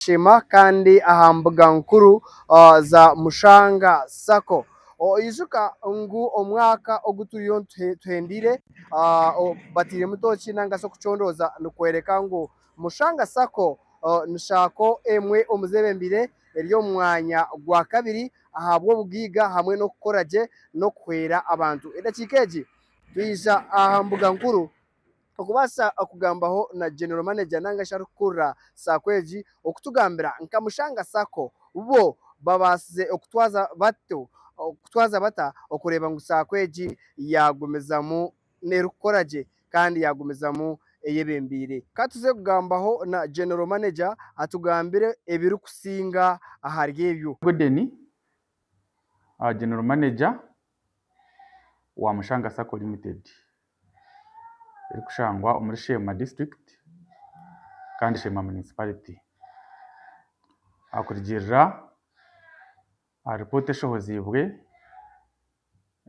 Shema kandi aha mbuga nkuru za Mushanga sacco. Ijuka ngu omwaka ogu turiyo tuhendeire batairemu tooki nari okucondooza nikworeka ngu Mushanga sacco ni sacco emwe omu zeebembeire eri omu mwanya gwa kabiri ahabw'obugaiga hamwe n'okukora gye n'okuhwera abantu. Edakiika egi twija aha mbuga nkuru okubaasa kugambaho na General Manager nari arikukurira Sacco egi okutugambira nka Mushanga Sacco bo babaasize kutwaza bata okureeba ngu Sacco egi yaagumizamu erikukora gye kandi yaagumizamu eyebembeire. Ka tuze kugambaho na General Manager atugambire ebirikusinga ahari ebyo. Good day General Manager, wa Mushanga Sacco Limited erikushangwa omuri Sheema District kandi Sheema Municipality. Ahakurigirira aha ripooti eshohoziibwe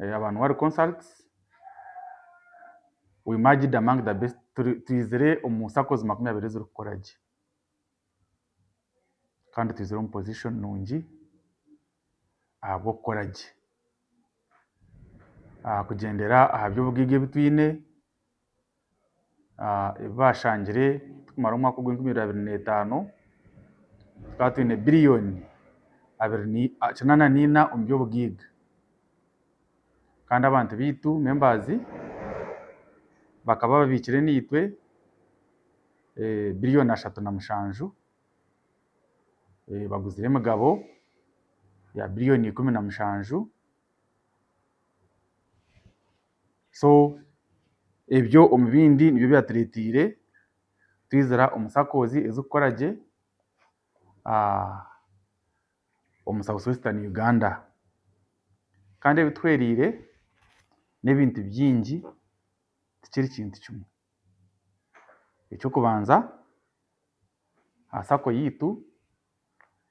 eya Banwari Consults, we merged among the best, twizire omu saccos makumi abiri ezirikukora gye. kandi twizire omu pozishoni nungi ahabw'okukora gye. Kugyendera aha by'obugaige ebi twine, ebi baashangire turikumara omwaka ogwa enkumi abiri na etaano, tukaba twine biriyoni kinaana na ina omu by'obugaige. Kandi abantu baitu, membaazi, bakaba babiikire naitwe biriyoni ashatu na mushanju, baguzire emigabo ya biriyoni ikumi na mushanju, so ebyo omu bindi nibyo byatureteire twizira omu sakozi ezirikukora gye omu south western Uganda kandi ebi tuhwereire n'ebintu bingi tikiri kintu kimwe. Eky'okubanza aha sacco yaitu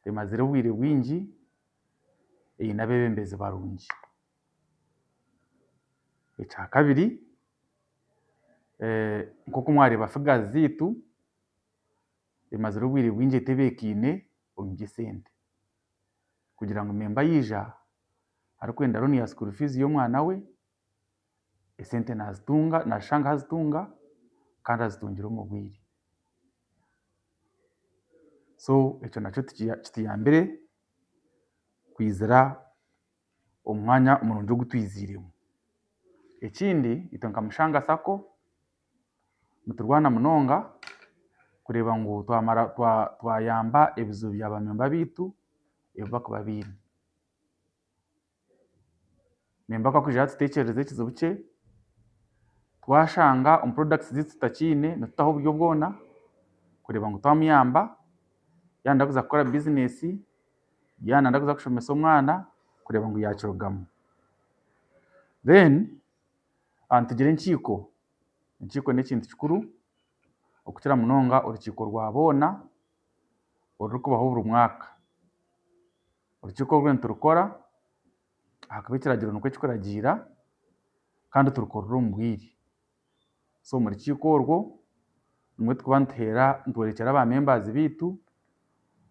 emazire obwire bwingi eine abebembezi barungi. Ekya kabiri nk'oku mwareeba figures zaitu emazire obwire bwingi etebekaine omu by'esente kugira ngu memba yaija arikwenda loan ya school fees y'omwana we. esente nazitunga nazishanga ahazitunga kandi azitungire omu bwire so ekyo nakyo kituyambire kwizira omu mwanya murungi ogu twiziiremu. Ekindi itwe nka Mushanga sacco niturwana munonga kureeba ngu twamara twayamba ebizibu bya ba memba baitu ebi bakuba baine. Niimba ku arikwiija yaatutekyerereza ekizibu kye, twashanga omu products ze tutakiine nitutaho oburyo bwoona kureeba ngu twamuyamba yaaba nari kuza kukora business, yaaba nari kuza kushomesa omwana kureeba ngu yaakirugamu. Then nitugira enkiiko, enkiiko n'ekintu kikuru okukira munonga orukiiko rwa boona. orurikubaho buri mwaka. Orukiiko oru niturukora ahakuba ekiragiro nikwo kirikuragiira kandi turikorera omu bwire. So omu rukiiko orwo nimwo turikuba nituheera nitworekyera ba members baitu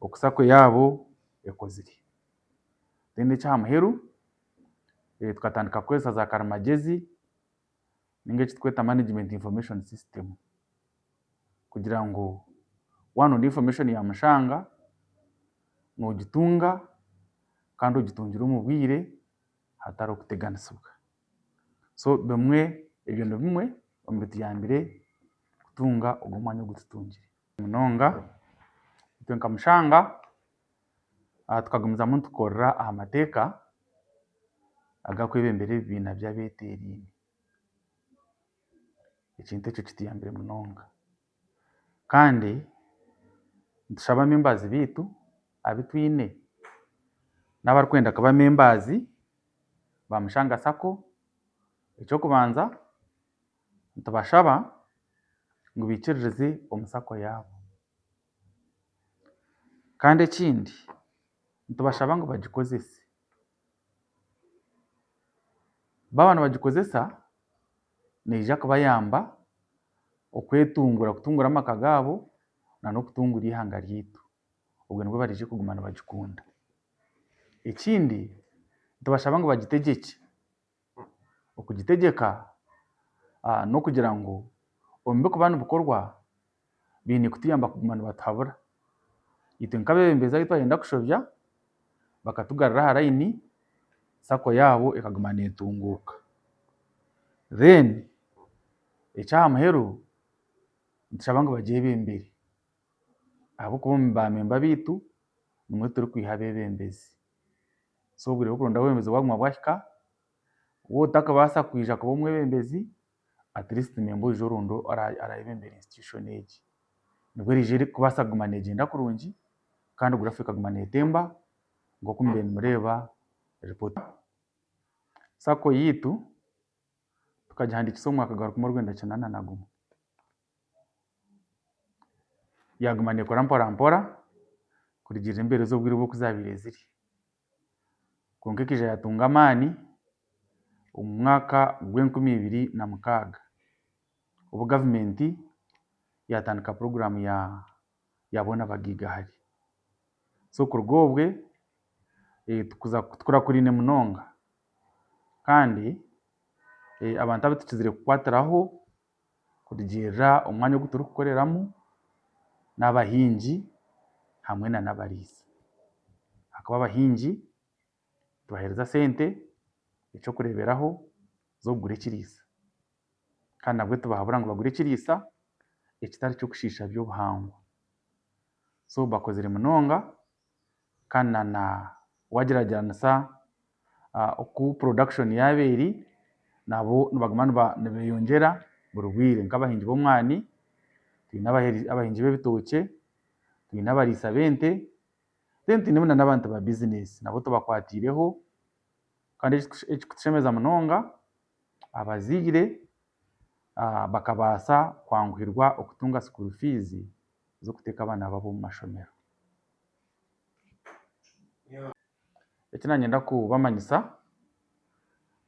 oku sacco yaabo ekozire. Then ekyaha muheru tukatandika kukoresa za karimagyezi. ninga eki turikweta management information system kugira ngu waaba noine information ya mushanga nogitunga kandi ogitungire omu bwire hatariho kuteganisibwa. So bimwe ebyo ni bimwe omu bituyambire kutunga ogwo mwanya ogu tutungire munonga itwe nka mushanga. tukagumizamu nitukorera aha mateeka agakwebembera ebibiina by'abeteeraine. Ekintu ekyo kituyambire munonga. Kandi nitushaba abembari baitu abu twine n'abarikwenda kuba abembari ba Mushanga sacco. Eky'okubanza nitubashaba ngu baikiririze omu sacco yaabo. Kandi ekindi nitubashaba ngu bagikozese. Baaba nibagikozesa neija kubayamba okwetungura, kutungura amaka gaabo nana okutungura eihanga ryaitu. Obwe nibwo bariija kuguma nibagikunda. Ekindi nitubashaba ngu bagitegye gye. okugitegyeka n'okugira ngu omu birikuba nibikorwa baine kutuyamba kuguma nibatuhabura. Itwe nk'abeebembezi abu twayenda kushobya bakatugarura aha layini sacco yaabo ekaguma neetunguuka. Then eky'aha muheru nitushaba ngu bagyebembere ahabw'okuba omu baamemba baitu nimwo turikwiha abeebembezi. So obwire bw'okurondaho oburemeezi bwaguma bwahika, waaba otakabaasa kwija kuba omwebembezi, at least niinyenda oije oronde orabembera institution egi. Nibwo eriija kubaasa kuguma neegyenda kurungi kandi graph ekaguma neetemba nk'oku mubire nimureeba report. Sacco yaitu tukagihandiikisa omu mwaka gwa rukumi orwenda kyenda na nagumwe. Yaaguma neekora mporampora kurugiirira embeerezi obwire obu zaabaire ziri. Kwonka ekaija yaatunga amaani omu mwaka gw'enkumi ibiri na mukaaga, obu gavumenti yaatandika puroguraamu ya boona bagaiga hare. So kuruga obwe, kuza kutukurakuraine munonga. Kandi abantu abu tukizire kukwatiraho. kurugiirira omu mwanya ogu turikukoreramu n'abahingi hamwe nana abariisa ahakuba abahingi nibahereza sente eky'okureeberaho z'okugura ekiriisa kandi nabwo tibahabura ngu bagure ekiriisa ekitari ky'okushiisha by'obuhangwa so bakozire munonga. kandi na wagyeragyeranisa oku production yaaba eri nabo nibaguma nibeyongyera buri bwire nk'abahingi b'omwani, twine abahingi b'ebitookye, twine abariisa b'ente then twine na n'abantu ba business nabo tubakwatiireho kandi ekirikutushemeza munonga Abazaire bakabaasa kwanguhirwa kutunga sikuuru fiizi z'okuteeka abaana baabo omu mashomero. Eki naagyenda kubamanyisa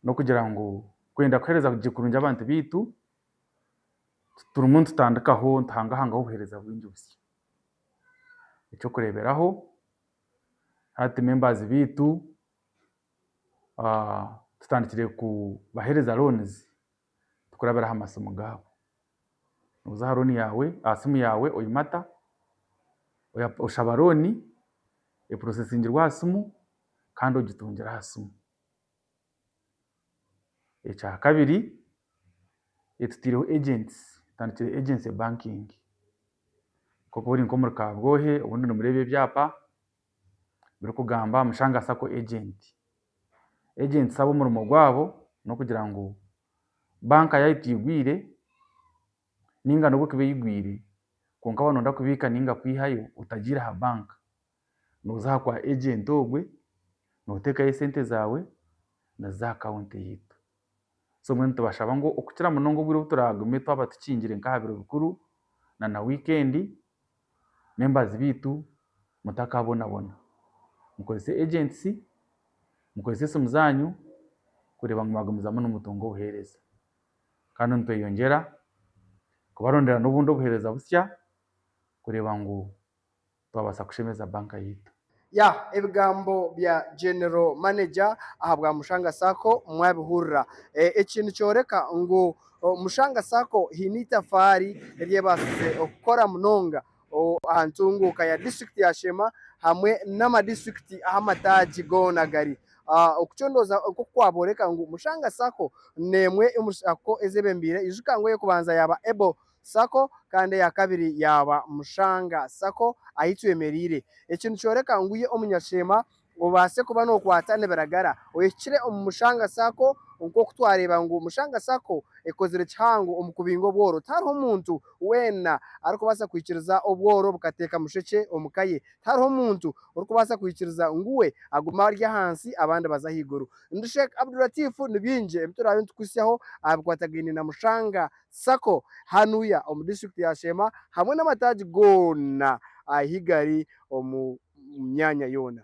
n'okugira ngu kwenda kuheereza gye kurungi abantu baitu, tirimu nitutandikaho nituhangahangaho obuheereza bwingi busya. Eky'okureeberaho, hati membaazi baitu. tutandikire kubahereza loonizi tukurabira aha masimu gaabo. Noza aha looni yaawe aha simu yaawe oyimata, oshaba looni eporosesingirwe aha simu kandi ogitungire aha simu. Ekyakabiri etutiireho egyensi tutandikire egyensi bankingi, nk'oku ori nk'omuri kabwohe obundi nimureeba ebyaapa. ebirikugamba aha Mushanga sacco agent. Agents abo omurimo gwabo n'okugira ngu banka yaayo teigwire nainga n'obu ekuba eigwire kwonka waaba nooyenda kubiika nainga kwihayo otagiire aha banka, nooza aha kwa agent ogwe nooteekayo esente zaawe nazo aha kaunti yaitu. So mbwenu nitubashaba ngu okukira munonga obwire obu turaagume twaba tukingire nk'aha biro bikuru nana wiikendi membazi baitu mutakaabonabona. Mukorese ejensi, mukorese esimu zaanyu kureeba ngu mwagumizamu nimutunga obuheereza. Kandi nitweyongyera kubarondera n'obundi obuheereza busya kureeba ngu Twabaasa kushemeza banka yaitu. Yah ebigambo bya General Manager aha bwa Mushanga Sacco mwabihurira. Eki nikyoreka ngu Mushanga Sacco haine eitafaari eri ebaasize kukora munonga aha ntunguuka ya District ya Sheema hamwe n'ama District ahu amataagi goona gari. Oku kyo ndooza nk'oku kwabooreka ngu Mushanga Sacco n'emwe omuri Sacco ezebembeire. Ijuka ngu ey'okubanza yaaba able sacco kandi eya kabiri yaaba Mushanga sacco ahi twemereire. Eki nikyoreka ngu iwe omunyasheema obaase kuba nookwata nibiragara ohikire omu Mushanga sacco nk'oku twareeba ngu Mushanga sacco ekozire kihango omu kubinga obworo. Tihariho muntu weena arikubaasa kwikiriza obworo bukateeka mushekye omu ka ye. Tihariho muntu orikubaasa kwikiriza ngu we agume ari ahansi abandi baze ahaiguru. Ndi Sheikh Abdul Latif ni bingi ebi turaabe nitukuhitsyaho aha bikwatagaine na Mushanga Sacco, Hanuya omu disiturikiti ya Sheema hamwe n'amataagi goona ahi gari omu myanya yoona.